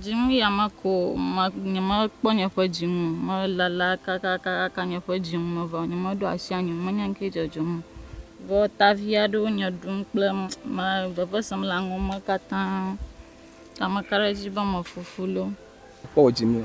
Dzinu ya meko o, nyemekpɔ nye ƒe dzinu o, melala kakakaka nye ƒe dzinu me vɔ, nyemeɖo asi anyi o, menye nuke dzɔdzɔm o. Vɔ ta vi aɖewo nye ɖum kple veve sem le aŋɔ me katã, ta meka ɖe edzi be mefufu loo. Kpɔ wò dzinu.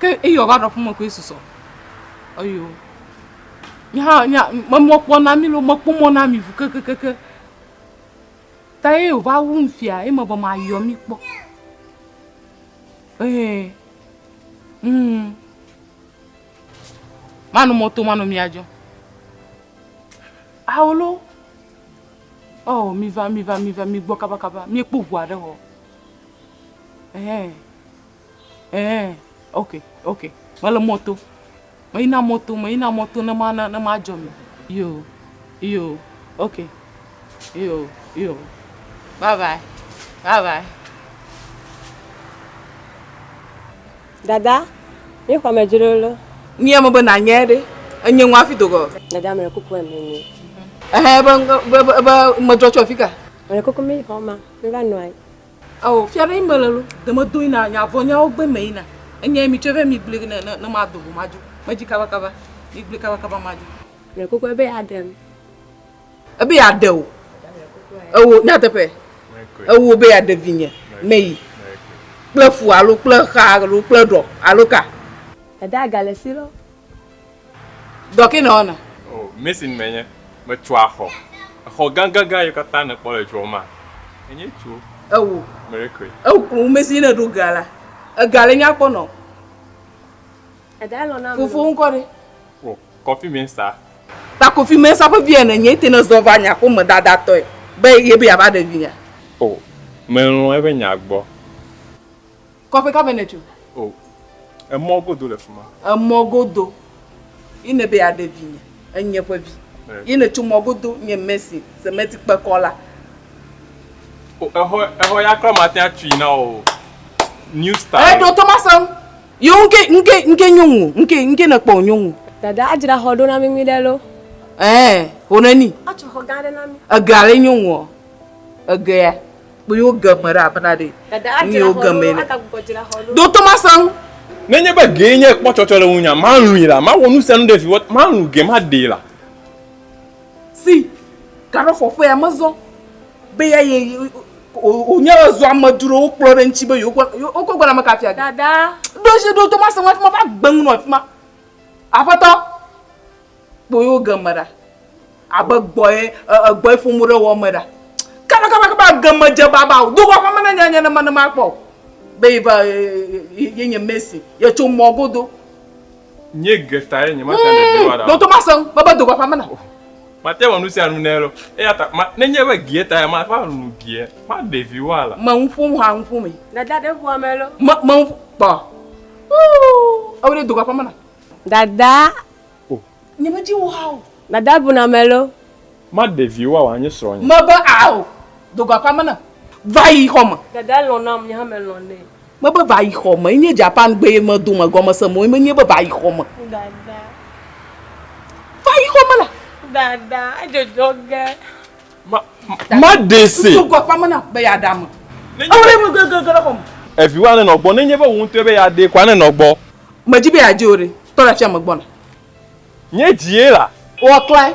Ke eyi ɔva ɖɔ ƒume koe susɔ. Eyo. Mi hã nya memɔ kpɔ na mi lo mekpɔ mɔ na mi vu kekekeke. Ta ye ova wu mi fia ye me be ma yɔ mi kpɔ. Eh. Mm. Manu moto manu mi ajo. Awolo. Oh, mi va mi va mi va mi gbɔ kaba kaba. Mi ekpo gua de ho. Eh, eh, ok, ok. Mele mɔto. Meyina mɔto, meyina mɔto ne ma ne ma dzɔ mi. Yo, yo, ok. Yo, yo. Bye bye. Bye bye. Dada, mi xɔ me dzro lo. Ni eme be na nye ɖe. Enye ŋu afi dogo. Dada me kuku eme ni. Eh, be be be me dzɔ tsɔ fika. Me kuku mi xɔ ma. Meva nɔ anyi. Ao, fia ɖe yi me le lo, de me do yina, nya vɔ nyawo gbe me yina. Enye mi tsɔe vɛ mi gble ne ne ne ma do vo ma dzo. Me dzi kaba kaba. Mi gble kaba kaba ma dzo. Mle koko ebe ya ɖem. Ebe ya ɖe wò. Ewò nyateƒe. Ewò be ya ɖe vinye. Me yi. Kple fu alo kple xa alo kple ɖɔ alo ka. Eda ga le si lɔ. Dɔ ke nèwɔna? O, mason menye. Metsoa xɔ. Exɔ gãgãgã yiwo katã nèkpɔ le dua mea, enye tso Ewo. Mericoe. Ewo kplɔ ŋu mason ne ɖo ga la. Ega le nyakpɔ nɔ. Egae lɔ̃ na ame. Fofowò ŋkɔ ɖe? O, Kofi Mensah. Ta Kofi Mensah ƒe via nènye. Ete ne zɔ va nye aƒe me dadatɔe be ye be yeava ɖe vinyea? O, melɔ̃ eƒe nya gbɔ. Kɔƒe ka me nètso? O, emɔ godo le fi ma. Emɔ godo. Yi nèbe yeaɖe vinye, enye ƒe vi. Yi nètso mɔ godo, nye Mercy, semɛti kpekɔla. O, exɔ, exɔ ya kura mate ŋu atui na wò o. New style. Ɛ, ɖo to masẽ ŋu. Yo, ŋke, ŋke, ŋke nyɔnu o. Ŋke, ŋke nèkpɔ o, nyɔnu. Dada, adzra xɔ ɖo na mí nyuiɖe loo. Ɛɛ, ho neni. Atsɔ xɔ gã aɖe na mí. Ege ale nyɔnuɔ? Egea? kpuiwo geme ɖe aƒe na ɖe ŋuiwo geme ne. Do Tomasa ŋu. Nenye be gee nye kpɔtsɔtsɔ le ŋunya, malũi la, mawɔ nu sia nu ɖe viwɔ, malũ ge maɖee la. Si gaɖɔfɔƒea mezɔ be ya ye wònye ezɔ amedzrowo kplɔ ɖe ŋuti be yewoakɔ gbe name ka afia ge. Ɖo Tomasa ŋu hafi mava gbe nu nɔ afi ma. Aƒetɔ. Kpɔ yewo game ɖa. Abe gbɔye, egbɔye ƒom wo ɖe wɔ me ɖa. Kaba kaba kaba egeme dze baba o. Do va ƒe me ne nye nye ne me ne ma kpɔ o. Be yi va ye nye Messi. Ye tso mɔ godo. Nye Greta ye nye ma tia ɖevi wa ɖa. Ɖo to ma se ŋu. Me be do va ƒe me na. Ma tia wɔ nu sia nu ne lo. Eya ta ma ne nye be Greta ya ma va nu bia ma ɖevi wa la. Me nu ƒom ha nu ƒom me. Dada ɖe ŋua me lo. Me me nu kpɔ. Ooh. Ewe ɖe do va ƒe me na. Dada. O. Nyemedi wò hã o. Mada bu na melo. Maɖe vi woawa nye srɔ̃nye. Mebe ao, do go aƒeame nam. Va yi xɔ me. Dada lɔ̃ nam, nye hã melɔ̃ nɛ. Mebe va yi xɔ me. Enye Japan gbe ye medo me gɔmese mɔ menye be va yi xɔ me. Dada. Va yi xɔ me la. Dada, edzɔdzɔ ge. Maɖee se. Ŋutsu gbakpa mena be yeaɖame. Awɔɖe mu gegege ɖe xɔme. Eviwò anenɔ gbɔ. Nenye be wò ŋutɔe be yeaɖee ko anenɔ gbɔ. Medi be yeadze o ɖe. Tɔ ɖe afia megbɔna. Nye dzie la. Woaklãe.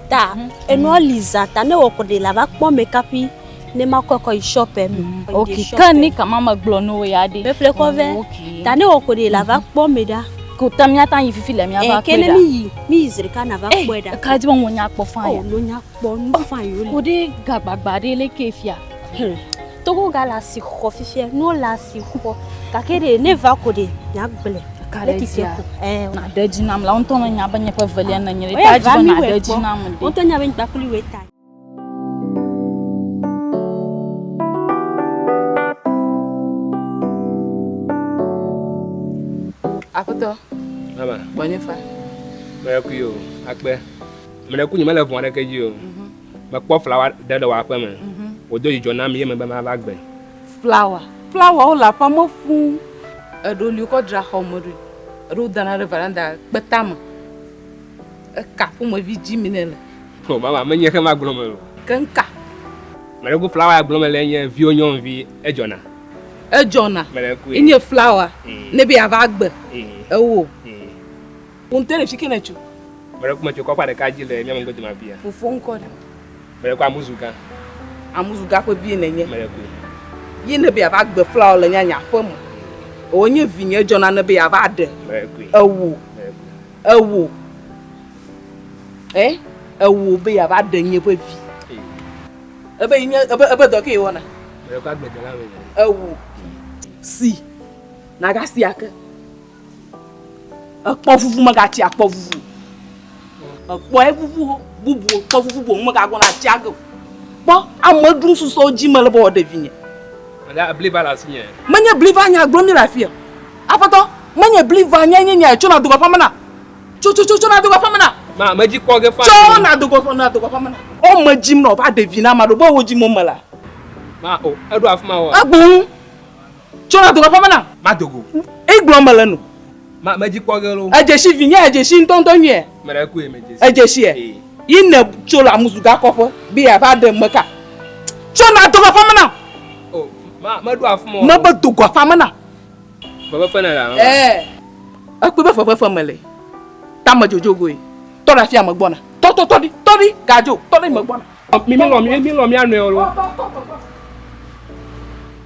Ta enua li za ta ne wòkɔ ɖe la va kpɔ mɛ kaƒi ne ma kɔ kɔ yi shɔpɛ me. Ok, ke ni kama me gblɔ ne wo ya ɖe. Ƒeƒle kɔ vɛ. Ta ne wòkɔ ɖe la va kpɔ mɛ ɖa. Ko ta mi ata yi fifi le mi ava kpɔ ɖa. Ke ne mi yi mi yi zrika na va kpɔ ɖa. Eh, ka di mo nya kpɔ fa ya. Oh, lo nya kpɔ nu fa yo le. Ko ɖe gagbagba ɖe le ke fia. Hmm. Togo ga le asi xɔ fifia, nuwo le asi xɔ. Gake ɖe ne va ko ɖe nya gblẽ. Ka ɖe dzi ko. Eh, na ɖe dzi nam la, won tɔ me nya be nye ƒe velia ne nye. Ta dzi na ɖe dzi nam de. Won tɔ nya be nya kuli we ta. Aƒetɔ. Mama. Bɔnye fa. Mele kuyo, akpe. Mele kunyi mele vɔn ɖe ke dzi o. Mekpɔ flawa ɖe le wò aƒe me. Mhm. Wòdo dzidzɔ nam ye mebe mava gbe. Flawa. Flawawo le aƒea me fũu. Eɖewo li wokɔ dra xɔ me ɖoe. Eɖewo dana ɖe veranda kpeta me. Eka ƒomevi dzi mi ne le. O mama, menye xe ma gblɔm o. Ke ŋka. Meleku flawa ya gblɔm le nye viwo nyɔnuvi edzɔna. Edzɔna. Meleku. Enye flawa. Mm. Ne be yeava gbe. Mm. Ewo. Mm. Wò ŋutɔ ɖe fi ke nètso. Meɖe ku metso kɔƒea ɖeka dzi le mía megbe dome afia. Fofo ŋkɔ ɖe. Meɖe ku amuzu gã. Amuzu gã ƒe vie nènye. Meɖe ku. Ye ne be yeava gbe fla wò le nyanya ƒe me. Ewò nye vinye edzɔ nane be yeava ɖe. Meɖe ku. Ewò. Meɖe ku. Ewò. Eh? Ewò be yeava ɖe nye ƒe vi. Ebe yi nye ebe ebe dɔ ke yi wɔna. Meɖe ku agbledela me. Ewò. Si. Nagasi ake. Ekpɔ vuvu megati akpɔ vuvu. Ekpɔ evuvu bubu kpɔ vuvu boŋ megagɔn ati age. Kpɔ ame ɖum susɔ dzi mele be ɖevi nye. Ala bliva le asinye. Menye bliva nya gblɔ mi le afia. Aƒetɔ, menye bliva nya nye nya tsona dogo aƒe mena. Tso tso tso tsona dogo aƒe mena. Ma medzi kpɔ ge fa. Tsona dogo aƒe na dogo aƒe mena. O medzim na o va ɖevi na ma ɖo be wo dzi mo mela. Ma o eɖo afima wa. Egbon. Tso na dogo ƒeme na. Ma dogo. Igblɔ me le no. Ma me dzi kpɔ ge lo. Edzeshi vi nye edzeshi ŋutɔ ŋutɔ nyuie. Me ɖe koe me dzeshi. Edzeshi e. Yi ne tso la muzu ga kɔƒe be ya va ɖe me ka. Tso na dogo ƒeme na. O ma me ɖo afɔ mo. Me be dogo afɔ me na. Febe fɔ ne la. Eh. Ekpɔ be febe fɔ me le. Ta me jojo goe. Tɔ la fia me gbɔ na. Tɔ tɔ tɔ di tɔ di gajo tɔ di me gbɔ na. Mi mi lɔ mi mi lɔ mi anɔ yolo.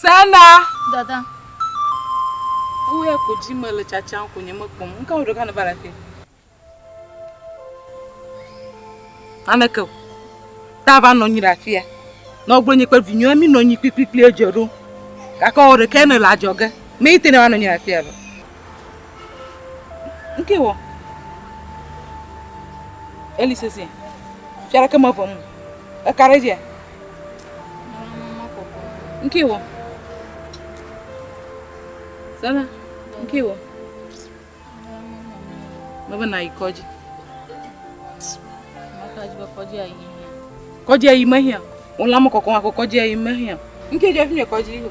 Sena. Dada. Ewo ya ko dzi me le tsatsam ko nye mekpɔm. Ŋka wo ɖeka ne va le afi. Aneke o. Ta va nɔ anyi ɖe afia. Nɔ gblɔ nye kple vinyɔa mi nɔ anyi kpikpikpli edze ɖo. Gake wo ɖeka ne le adzɔge. Me yi te ne va nɔ anyi ɖe afia lɔ. Ŋkee wɔ. Eli sese. Fia ɖeke me vɔm. Eka ɖe dzia. Ŋkee wɔ. Sala, ŋkee wɔ. Mebe na yi kɔdzi. Kɔdzi ayi mehia. Wòlã me kɔkɔm ako kɔdzi ayi mehia. Ŋkee dzɔ fi mi kɔdzi yi o.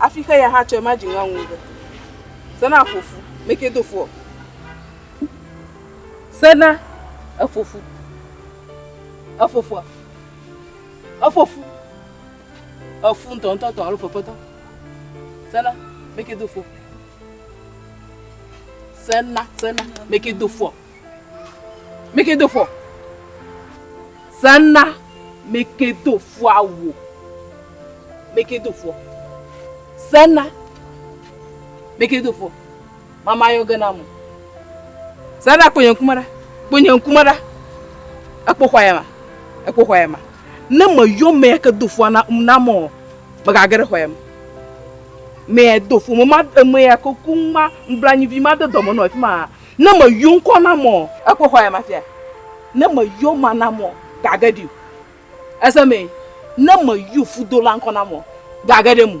Afi xe ya hã tsɔe ma dzi ŋa ŋu be. Sena fofu, me ke do fo. Sena efofu. Efofu. Efofu. Efu ntɔ ntɔ tɔ alo fefetɔ. Sena me ke do fo. Sena, sena me ke do fo. Mekedo fɔ. Sana mekedo fɔ awo. Mekedo fɔ. Sana mekedo fɔ. Mama yɔ gena mo. Sana kpɔ nye ŋkume ɖa. Kpɔ nye ŋkume ɖa. Ekpɔ xɔa ya ma. Ekpɔ xɔa ya ma. Ne me yɔ me ya ke do fɔ na na mo. Mega ge ɖe xɔa ya me. Me ya do fɔ. Mama me ya ke ku ma mblanyi vi ma de dɔme no afima. Ne me yo ŋkɔ na mɔ. Ekpo xɔ ya ma fia. Ne me yo ma na mɔ gage di. Ese me ne me yo fudo la ŋkɔ na mɔ gage de mu.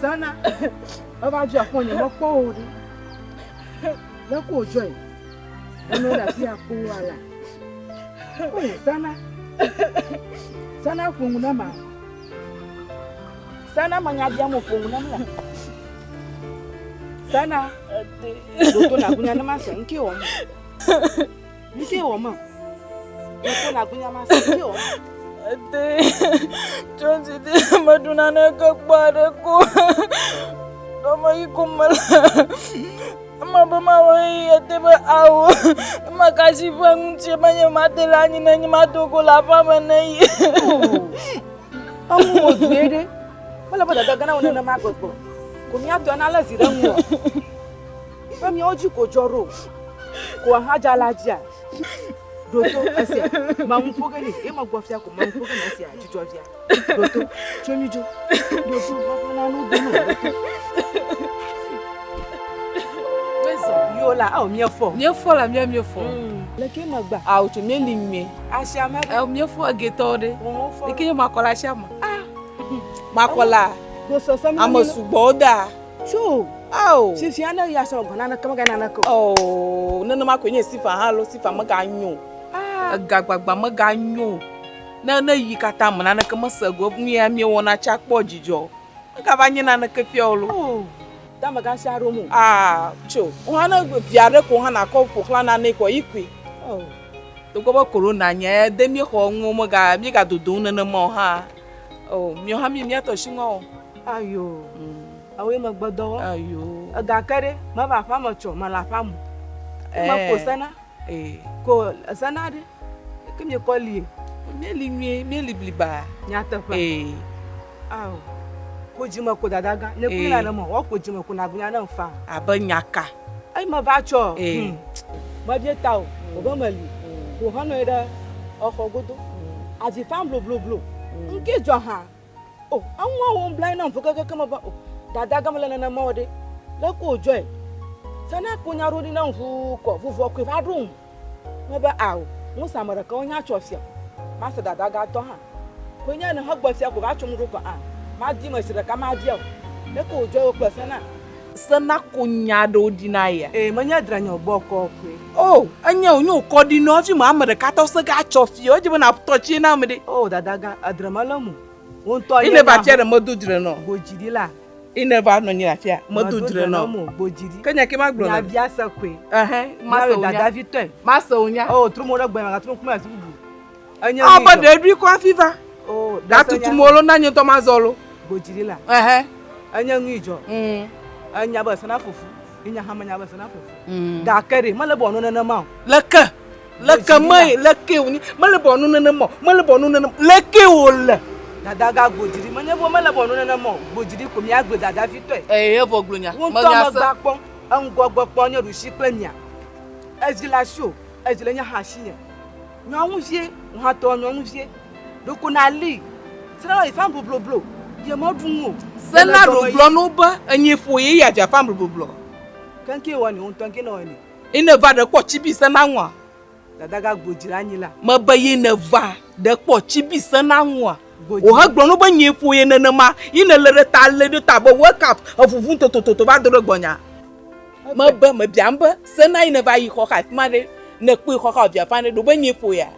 Sana, eva dzi akpɔ nye mekpɔ wò ɖi. Ne ko dzɔe, enu le afi akpɔ wa la. O Sana, Sana ƒo nu na ma. Sana manya bia mo ƒo nu na ma. Sana. Ɖoto na gunya ne ma se ŋkee wɔ ma. Ŋkee wɔ ma. Ɖoto na gunya ma se ŋkee wɔ ma. Ete tɔnti de meɖu nane ke kpɔ aɖe ko. Dɔme yi ko me le. Ema be ma wɔ yi ete be awo. Ema kasi ƒe ŋuti menye ma te la nyi nenye ma dogo la ƒame ne yi. Eŋu wò due ɖe. Wole be dada gana wònene ma gbɔgbɔ. Ko míatɔ na le zi ɖe ŋu. Ƒe míawo dzi ko dzɔ ɖo. Ko ahaja la dzia. Ɖoto esia. Mamu ƒo ge ne. Ye me gbɔ fia ko mamu ƒo ge ne esia. Dzidzɔ via. Ɖoto. Tso mi dzo. Ɖoto. Gbɔgbɔ na nu dunu. Ɖoto. Wezɔ. Yo la. Awo miefɔ. Miefɔ la mia miefɔ. Leke magba. Awo tso mi li mi. Asia me. Eh, mie fo ege to de. Mo fo. Ike ma kola asia ma. Ah. Ma kola. Do so so mi. Amo su bo da. Chu. Oh. Si si ana ya so gona na kama gana na ko. Oh, no no ma ko nye sifa ha lo sifa ma ga nyo. Ah. Ega gbagba ma ga nyo. Na na yi kata ma na kama se go mi ya mi wona cha kpo jijo. Ka va nye na na ke fio lo. Oh. De amegã sia ɖom o. Aa, tso. Wohã ne via ɖe ko hã nàkɔ ƒo xlã nanee koa, yi kui. Oh. Togbɔ be Korona nya ya de míexɔ eŋuo, mega, míegadodo ŋu nenema o hãa, oh, miɔ hã míyi mía tɔ shi ŋua o. Ayo. Ewoe megbedɔ wɔ. Ayo. Egake ɖe, meva aƒea me tsɔ, mele aƒea me o. Meko sena. Ko zana ɖe ke mi kɔ li mi li nyui mi li bliba nyateƒe ao ko dzime ko dada gã ne kuli na ne mo wa ko dzime ko na gunya ne fa abe nyaka ai me va tsɔ hmm. me bie ta o o be me li ko hɔnɔ ɖe exɔ godo avi fa blo blo blo nke dzɔ ha O, eŋua wo ŋbla na ŋu keke me va o. Dada gama le nana mawo ɖe. Le ko joy. Sana ko nya ɖo ni na ŋu ko ŋu vɔ ko va ɖo ŋu. Me be ao, ŋu sa me ɖeka wo nya tsɔ fia. Ma se dada ga tɔ ha. Ko nya ne he gbe fia ko va tsɔ mu ɖo ko a. Ma di me si ɖeka ma via o. Le ko joy wo kple sana. Se na ko nya aɖewo ɖi na ya. Ee, menye dranyɔ bɔkɔ koe. O, enye o, nyo kɔ ɖi nɔ fi ma ame ɖeka tɔ se ga tsɔ fi o, edze be na tɔ tsi na ame ɖe. O, dada ga, adre ma le mu. Wo ŋutɔ nye. Ine va tsia ɖe medo dre nɔ. Gboji ɖi la. Ine va nɔ nyi afia, medo dre nɔ. Mo gboji ɖi. Ke nya ke ma gblɔ. Nya bia se koe. Ehɛn, ma se o nya. Dada vi tɔe. Ma se o nya. O, tro mo ɖe gbɔ ya ma ga tro ŋkume asi bubu. Ewɔ be ɖe eɖoe kɔ hafi va. Gatutu mo lo na nye ŋutɔ mazɔ lo. Godzi ɖi la. Ɛhɛ. Enye nu yi dzɔ. Enya be sena fufu. Yi nya hã menya be sena fufu. Gake ɖe mele bɔ nu nenema o. Leke? Leke me leke wonye? Mele bɔ nu nenema o. Mele bɔ nu nenema. Leke wo le? Dada ga godzi ɖi. Menye bo mele bɔ nu nenema o. Godzi ɖi ko mia gbe dada vi tɔe. Ɛhɛ evɔ glo nya. Menya se. Ŋutɔ me gba kpɔ. Eŋgɔ gbe kpɔ nye ɖusi kple mia. Edzi la si o. Edzi le nye hã si nye. Nyɔnuvie, ŋhatɔ nyɔnuvie, ɖeko nàli, srã le fam blobloblo, ye mɔɖu ŋu o. Sennaɖo gblɔ na wo be, Enye ƒo ye ya dza fam blobloblo. Keŋkeŋ wɔ ni wo ŋutɔ ŋke nɔ wɔ ni. Yi ne va ɖe kpɔ cibi sena ŋua? Dada ga gbo dzi ɖe anyi la. Me be yi ne va ɖe kpɔ cibi sena ŋua? Wo he gblɔ na wo be, Enye ƒo ye nenema. Yi ne le ɖe ta le ɖe ta be, Wake up, eŋuŋum totototo va do ɖe gbɔnye a? Mebe mebiam be sena yi neva yi xɔxa afi ma ɖe ne kpɔe xɔxa o via fane ɖo be nyee ƒo ya.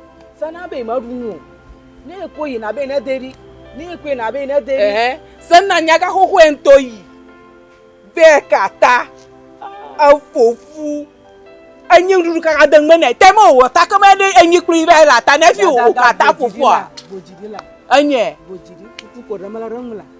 Sena be meɖu nu o ne ekpɔe yina be ne de ɖi ne ekpɔe na be ne de ɖi. Sena nyaga xoxoe ŋutɔ yi be kata efo fu enyi nuɖuɖu kaka de ŋme ne te me o ta ke me ɖe enyi kpli va la ta ne fi o kata fofua enye. Bodzidi kutu ko ɖe me la ɖe ŋu la.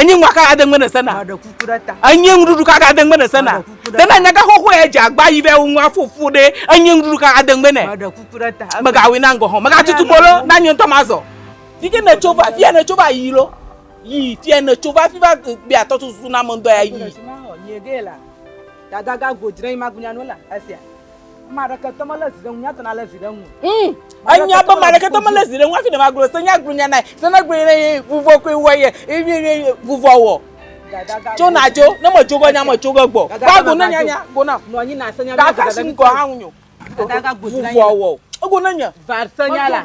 Enye ŋua ka ade ŋgbe ne sena. Enye ŋuɖuɖu ka ade ŋgbe ne sena. Tena nyaga xoxo ya dze agba yi be wo ŋua fofo ɖe enye ŋuɖuɖu ka ade ŋgbe ne. Mega wina ŋgɔ ho. Mega tutu mo lo na nye ŋutɔ ma zɔ. Fike ne tso va fia ne tso va yi lo. Yi fia ne tso va fi va be atɔ susu na me ŋdɔ ya yi. Dada ga go dre yi ma gunya no la esia. Hmm. Enya be maɖeke tɔ mele zi ɖe ŋu hafi ne magblɔ se nya gblɔ nya nae se ne gblɔ ye vuvɔ koe wɔ ye ye vuvɔ wɔ tso na tso ne me tso ge nya me tso ge gbɔ ba go ne nya nya go na gaka si ŋgɔ hã ŋu nyo vuvɔ wɔ ego ne nya. Varsenya la.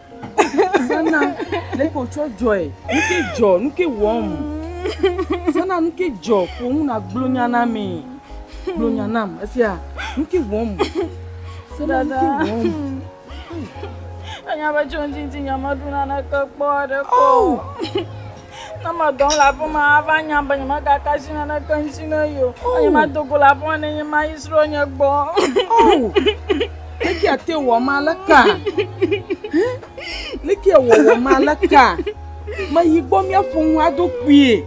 Sana, le ko tsɔ dzɔe. Nuke dzɔ, nuke wɔm. Sana, nuke dzɔ, ƒo nu na gblɔ nya na mi. Gblɔ nya nam, efia, nuke wɔm. Sana, nuke wɔm. Anya be tso ŋtsi ŋtsi nyamaɖu naneke kpɔ aɖe kɔ. Oh! Ne medɔ le aƒe ma, ava nya be nyemegaka asi naneke ŋuti ne ye o. Oh. Eye mado go le aƒe ma ne nye ma yi srɔ̃ nye gbɔ. Oh. Leke ate wɔ ma le ka? Leke wɔ wɔ ma le ka? Meyi gbɔ míaƒo ŋu ado kpuie.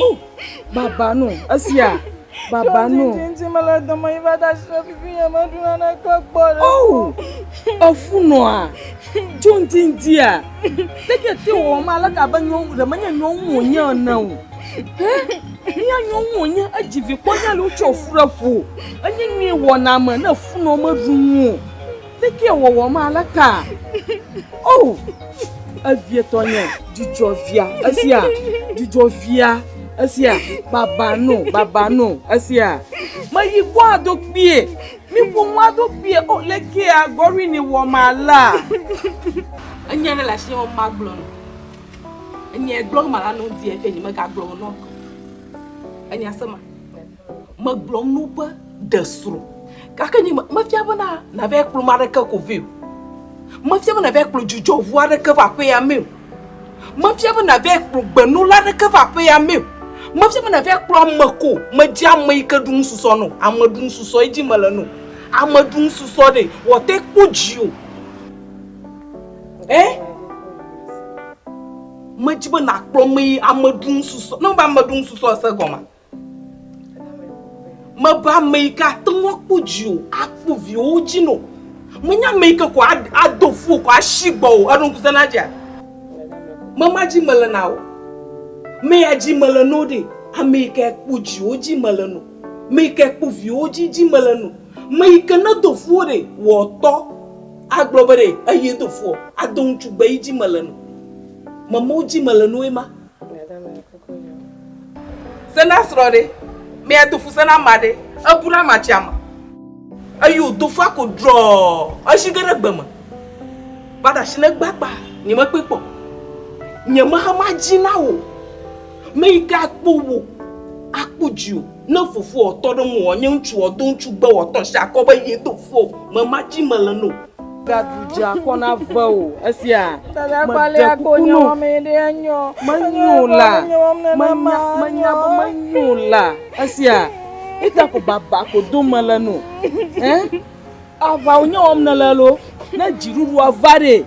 Oh. Baba no esia. Baba no. Ŋti me le dɔme yi va da shi ɖe fifi nye me ɖu na ne kle gbɔ ɖe. Oh. Efu noa. Tso ŋti ŋti a. Teke ti wo ma le ka be nyo de menye nyo wo nye ne o. Nya nyo wo nye edzi vi kpɔ nya lu tso fu ɖe fu. Enye nyi wona me ne fu no me ɖu nu. Tekie wɔwɔ ma le ka? Oh, evietɔ nye dzidzɔ via esia, dzidzɔ via esia, baba no, baba no esia. Meyi gbɔ ado kpie, mi ƒomu ado kpie, oh, le kia gɔri ni wɔ ma la. Enye ɖe le asi ma gblɔ no. Enye gblɔ ma la no di eke nye mega gblɔ no. Enye asema. Megblɔm no be ɖe srɔ̃. Gake nye mefia be na nava kplɔ me aɖeke ko vɛ o. Mefia be nava kplɔ dzudzɔŋu aɖeke va aƒea me o. Mefia be nava kplɔ gbenɔla aɖeke va aƒea me o. Mefia be nava kplɔ ame ko. Medze ame yi ke ɖu nususɔ no. Ame ɖu nususɔ edzi mele no. Ame ɖu nususɔ ɖe wòate kpɔ dzi o. Ɛ? Medzi be nakplɔ ame yi ame ɖu nususɔ. Ne wobe ame ɖu nususɔ ese gɔmea? Mebe ame yi ke ate ŋu akpɔ dzi o, akpɔ viwo dzi no. Menye ame yi ke ko ado fu ko asi gbɔ o. Eɖo ŋku sena dzia? Mema dzi mele na o. Me ya dzi mele no ɖe. Ame yi ke kpɔ dziwo dzi mele no. Me yi ke kpɔ viwo dzi dzi mele no. Me yi ke ne do fuwo ɖe wɔtɔ agblɔ be ɖe eye do fuɔ, ado ŋutsu gbe yi dzi mele no. Memewo dzi mele no ye ma. Sena srɔ̃ ɖe, mea do fu sena ma ɖe, ebu na ma tsia ma. Eyo do fa ko drɔ, eshi ge ɖe gbe me. Ba da shi ne gbagba, nye me kpe kpɔ. Nye me ha ma dzi na wo. Me yi ke akpo wo, akpo dzi o. Ne fofoɔ tɔ ɖe ŋuwò nye ŋutsuɔ, do ŋutsu gbewɔtɔ si akɔ be ye do fofoɔ me ma dzi mele no. Gaɖu dze akɔ na vewò esia. Meɖe kuku no. Menyo la, menya, menya be menyo la esia. Ita ko baba ko dom mele no. Ẽ? Aʋa wònye wɔm nèle loo? Ne dziɖuɖua va ɖee,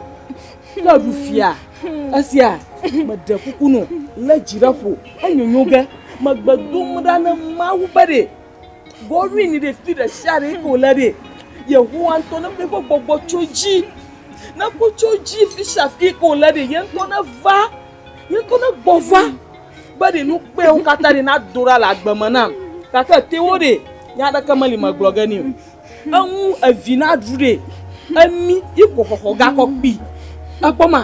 Ke ɖu fia esia meɖe kuku nɔ lé dzi ɖe ƒo enyonyo ge megbe dom ɖa ne Mawu be ɖe gɔwin ɖe fi ɖe sia ɖe ko le ɖe Yehowa ŋutɔ ne ƒe gbɔgbɔ tso dzi ne ko tso dzi fi sia fi ko le ɖe ye ŋutɔ ne va ye ŋutɔ ne gbɔ va be ɖe nu kpewo katã ɖe na do ɖa le agbe me nam gake te wo ɖe nya aɖeke meli megblɔ ge ni o. Eŋu evi na ɖu ɖe emi iko xɔxɔ gakɔ kpi. Ekpɔ ma,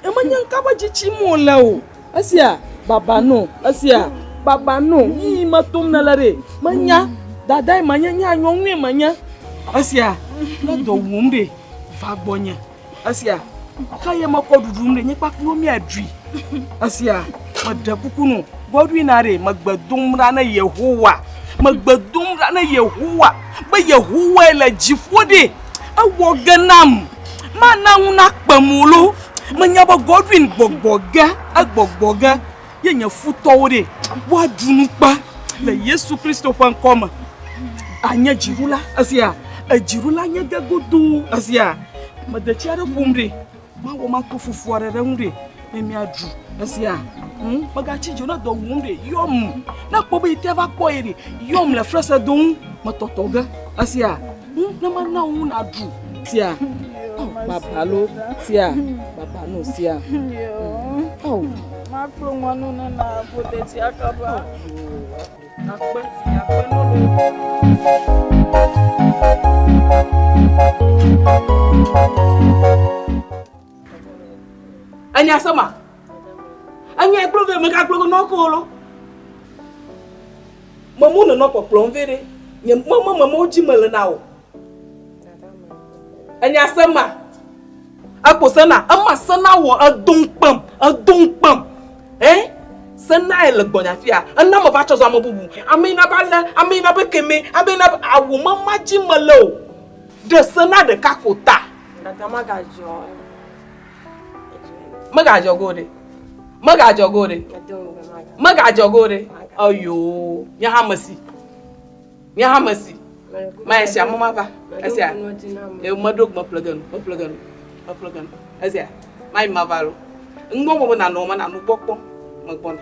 eme nye nka be dzitsi mo le o. Esia baba no, esia baba no, yiyi me tom ne le ɖe. Menya dadae menye, nye anyɔnue menye. Esia ne dɔ wum ɖe va gbɔ nye. Esia, xa ye mekɔ ɖuɖu nu ɖe nye kpakpuwo miaɖui. Esia, meɖe kuku nu, gbɔɖui na ɖe megbe dom ɖa ne Yehowa. Megbe dom ɖa ne Yehowa be Yehowae le dziƒo ɖe. Ewɔ ge nam. Mana ŋu nakpe mo lo. Menya be Godwin gbɔgbɔ ge, egbɔgbɔ ge. ye nye futɔwo ɖe woaɖu nukpa le Yesu Kristo ƒe ŋkɔ me. Anye dziɖula esia, edziɖula nye ge godoo esia. Medetsi aɖe ƒom ɖe, mawɔ mato fufu aɖe ɖe ŋu ɖe, ne miaɖu esia. Hm, megatsi dzo ne dɔ wum ɖe, yɔm. Ne kpɔ be yi te va kpɔ ye ɖe, yɔm le fresedo ŋu, metɔtɔ ge esia. Bu ne mana wo naɖu. Tia. Babalo. Tia. Babano. Tia. Oh. Makplo ŋɔnu ne na bote tia kaba. Akpe. Akpe nolo. Anya sama. Anya ekplo ve mega kplo no kolo. Me mo nenɔ kpɔkplɔm vɛ ɖe. Nye me me me mo dzi me le na o. Enya se ma. Ekpo se na. Ema se na wɔ edo ŋkpem. Edo ŋkpem. Hein? Se na e le gbɔnya fia. Ena me va tsɔ zɔ ame bubu. Ame ina ba le. Ame ina be keme. Ame ina be awu me ma dzi me le o. Ɖe se na ɖeka ko ta. Dada ma ga dzɔ. Megadzɔ go ɖe. Megadzɔ go ɖe. Megadzɔ go ɖe. Eyo, nye hã mesi. Nye hã mesi. Ma esia mama va. Esia. Meɖo gbe ƒle genu. Meƒle genu. Meƒle genu. Esia. Ma yi ma va lo. Ŋgbɔ mo be nanɔ ma nanu gbɔ kpɔ. Megbɔna.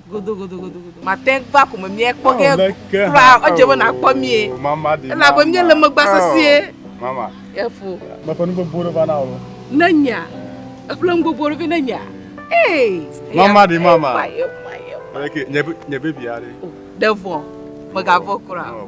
Godogodogodogodo. Mate ŋu va ko me míakpɔ ge kura o. Edze be nàkpɔ míe. Elabe míele megba sesĩe. Efo. Meƒe nu gbogbo ɖe va na wò. Ne nya. Eƒle nu gbogbo ɖe vɛ ne nya. Ee. Mama ɖi mama. Eye eye eye. Nye nye bebia ɖe. Ɖe vɔ. Mègavɔ̃ kura o.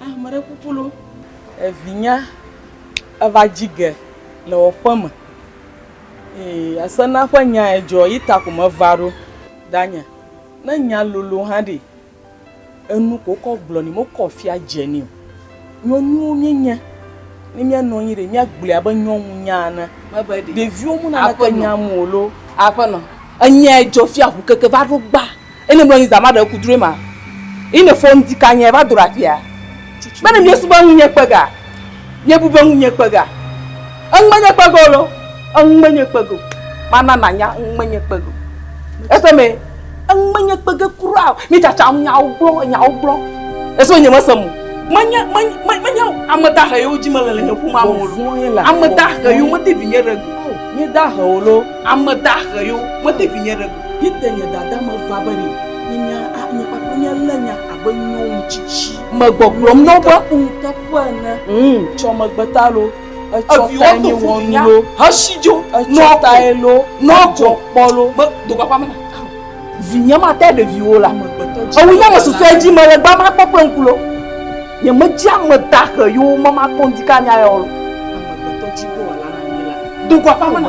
Ame ɖe kuku lo. Evinya eva dzi ge le wɔƒe me eye asena ƒe nya edzɔ yi ta ko me va ɖo danye ne nya lolo hã ɖi enu ko kɔ gblɔ ni mo kɔ fia dze ni o. Nyɔnuwo mi nye ne mia nɔ anyi ɖe mia gblɔe abe nyɔnu nya ene. Ɖeviwo mu na ke nya mo lo. Aƒenɔ, enya edzɔ fia ʋu keke va ɖo gba. Eyi ne mlɔ anyi zã ma ɖe ŋku drɔe ma. Eyi ne fɔ ŋdi ka nye va do ɖe afia. Be ne miesu be ŋunye kpe ga, miebu be ŋunye kpe ga. Eŋu menye kpe ge o lo. Eŋu menye kpe ge o. Mana nanya eŋu menye kpe ge o. Ese me? Eŋu menye kpe ge kura o. Mi tsatsa ŋu nyawo gblɔ, enyawo gblɔ. Ese me nye me se mo. Menye, menye, menye, menye ame dahe yewo dzi me le le nye ƒome ame o lo. Ame dahe yewo mete vinye ɖe go. Nye dahe o lo. Ame dahe yewo mete vinye ɖe go. Yi te nye dada me va be ɖi. Nye nya a nye kpakple nye le nya abe nyɔnu tsitsi. Me gbɔgblɔm nɔ be. Ku ŋuteƒe ene. Tsɔ megbe ta lo. Etsɔ tae mi wɔ nu lo. Hesi dzo. Etsɔ tae lo. Nɔ dzɔ kpɔ lo. Me do gbagba me na. Vinye ma te ɖevi wo la. Ewu nye me susɔe dzi me le gba ma kpɔ kple ŋku lo. Nye me dzi ame da xe yo me ma kpɔ ŋdi ka nya ya wo lo. Amegbetɔ dzi bo wa la na mi la. Do gbagba me na.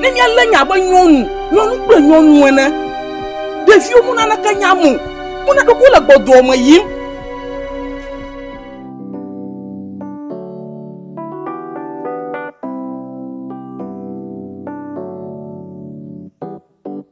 Ne míalé nya abe nyɔnu, nyɔnu kple nyɔnu ene, ɖeviwo mu naneke nya mo, mu na ɖoko le gbɔdɔa me yim.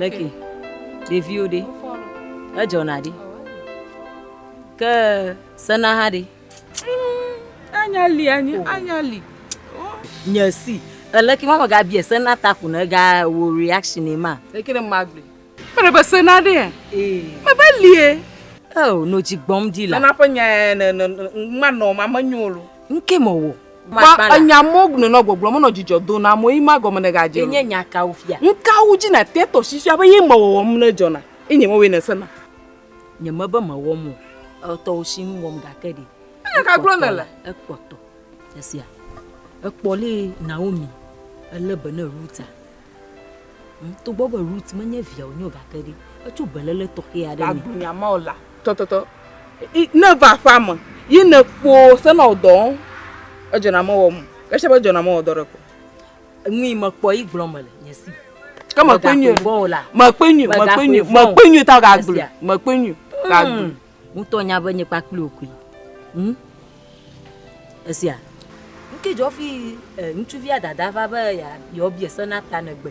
Leki, ɖeviwo ɖe, edzɔna ɖi, ke sena hã ɖe. Anya li anyi, anya li. Nye si. Eleki ma maga bia se na ta kuna ga wo reaction e ma. Eki ne ma gbe. Me re be se na de e. Me be li e. Oh, no ji gbɔm di la. Nana pe nya e ne ne ma no ma me nyo lo. Nke mo wo. Ba enya mo gne no gbɔgblɔ me no ji jɔ do na mo yi ma gɔ me ne ga je. Enye nya ka wo fia. Nka wo ji na te to si fia be yi mo wo wo me ne jɔ na. Enye mo we ne se na. Nyeme be mewɔm o. Etɔwò si ŋu wɔm gake ɖe. Ame ka gblɔ nèle? Ekpɔtɔ. Esia. Ekpɔ lé Naomi elé be ne Ruta. Hm, togbɔ be Rut menye via wònye o gake ɖe etso beléle tɔxɛ aɖe me. Agblɔ nya ma o la. Tɔtɔtɔ. Ne va aƒea me ye nèkpɔ senɔdɔ edzɔna mewɔm o. Esia be edzɔna mewɔdɔ ɖe kpɔ. Nui mekpɔ yi gblɔ mele nye si. Ke mekpɔe nyuie. Mekpɔe nyuie. Mekpɔe nyuie. Mekpɔe nyuie ta gagblɔe. Mekpɔe nyuie. Gagblɔe. Hmm. Ŋutɔ nya be nye kpakple wò koe. Hmm. Esia. Ŋke dzɔ fi eh, ŋutsuvia dada va be yeɔbie sena ta negbe.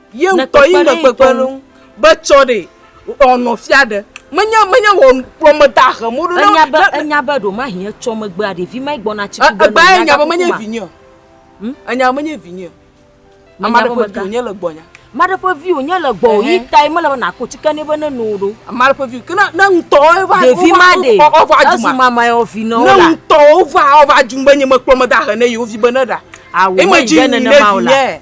Ye ŋutɔ yi me kpekpe ɖe ŋu be tsɔ ɖee ɔ nɔ fia ɖe. Menye menye wɔ kplɔ me da hem wo ɖo ne. Enya be enya be ɖo mahi etsɔ megbea ɖevi ma gbɔ na tsi ku be. Egba enya be menye vinye. Hm enya be menye vinye. Ame ɖe ƒe vi wonye le gbɔ nya. Ame ɖe ƒe vi wonye le gbɔ yi ta yi mele be na ko tsi ke ne be ne no ɖo. Ame ɖe ƒe vi ke ne ne ŋutɔ ye va ɖevi ma ɖe ɔ va dzi ma. Mama yɔ vi nɔ la. Ne ŋutɔ wo va ɔ va dzi be nye me kplɔ me da he ne yewo vi be ne ɖa. Awo me dzi ne ne vi nye.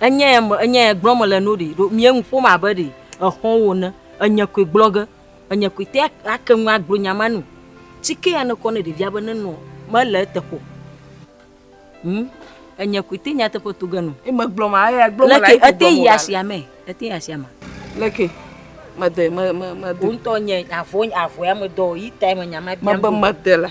Enya ya me, enya ya gblɔm mele no ɖi. Ɖo mìa nu ƒom abe ɖe exɔwo ene. Enye koe gblɔ ge. Enye koe te ake nu agblɔ nya ma nu. Ci ke ya nekɔ ne ɖevia be nenɔ mele eteƒe o. Ŋ, enye koe te nyateƒe to ge nɔ. Ye megblɔ ma, eya gblɔ mele Leke ete yi asiame? Ete yi asiame. Leke? Mede, me, me, mede. Wo ŋtɔ nye avɔ, avɔa medɔ yi tae me nya ma biam. Mebe mede la.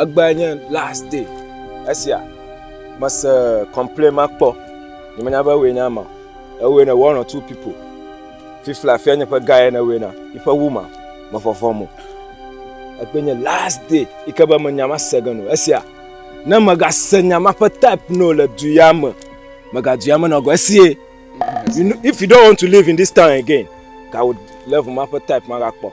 Egbea nye last day esia. Mese complain ma kpɔ. Nyemenya be ewoe nye ama. Ewoe ne one or two people. Fifla afia nye ƒe guy ne ewoe na. Yiƒe wu ma, me vɔvɔ mo. Egbe nye last day yi ke be me nya ma se ge no esia. Ne mega se nya ma ƒe type no le du ya me, mega du ya me nɔ go esie. If you don't want to live in this town again, ka wo level ma ƒe type ma ga kpɔ.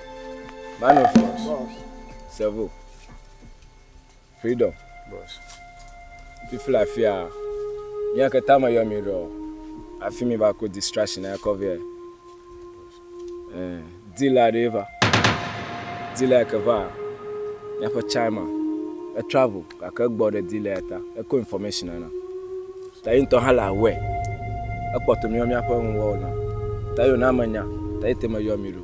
Sevo, Freedom, fifle afia, mía keta me yɔ mi ɖɔ, afi mi va ko distraction ya kɔ vɛ. Dila ɖe va, dila ke va, míaƒe chima, e travel gake egbɔ ɖe dila ya ta, ekɔ information na. Ta yi ŋutɔ hã le aware, ekpɔtɔ míaƒe nuwɔwɔ na, ta yi wòna menya, ta yi te me yɔ mi ɖo.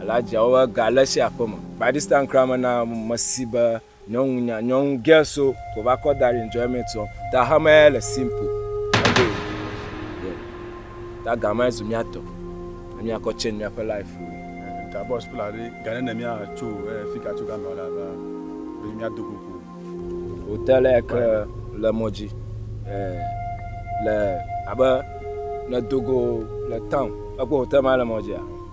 Ela dzia wo be ga le tsi aƒe me. Badistan kura me na me si be nyɔnu nya nyɔnu ge so ko va kɔ da ɖi enjoyment sɔ. Ta ha me le simple. Ebe yeah. Ta ga me zu mia tɔ. Ami akɔ change mia ƒe life. Ta boss pla ɖe ga ne ne mia tso eh, fika tso ga me la ba. Be mia do koko. Hotel ya ke le mɔdzi. Eh, le abe ne dogo le town. Ekpɔ hotel ma le mɔdzi ya.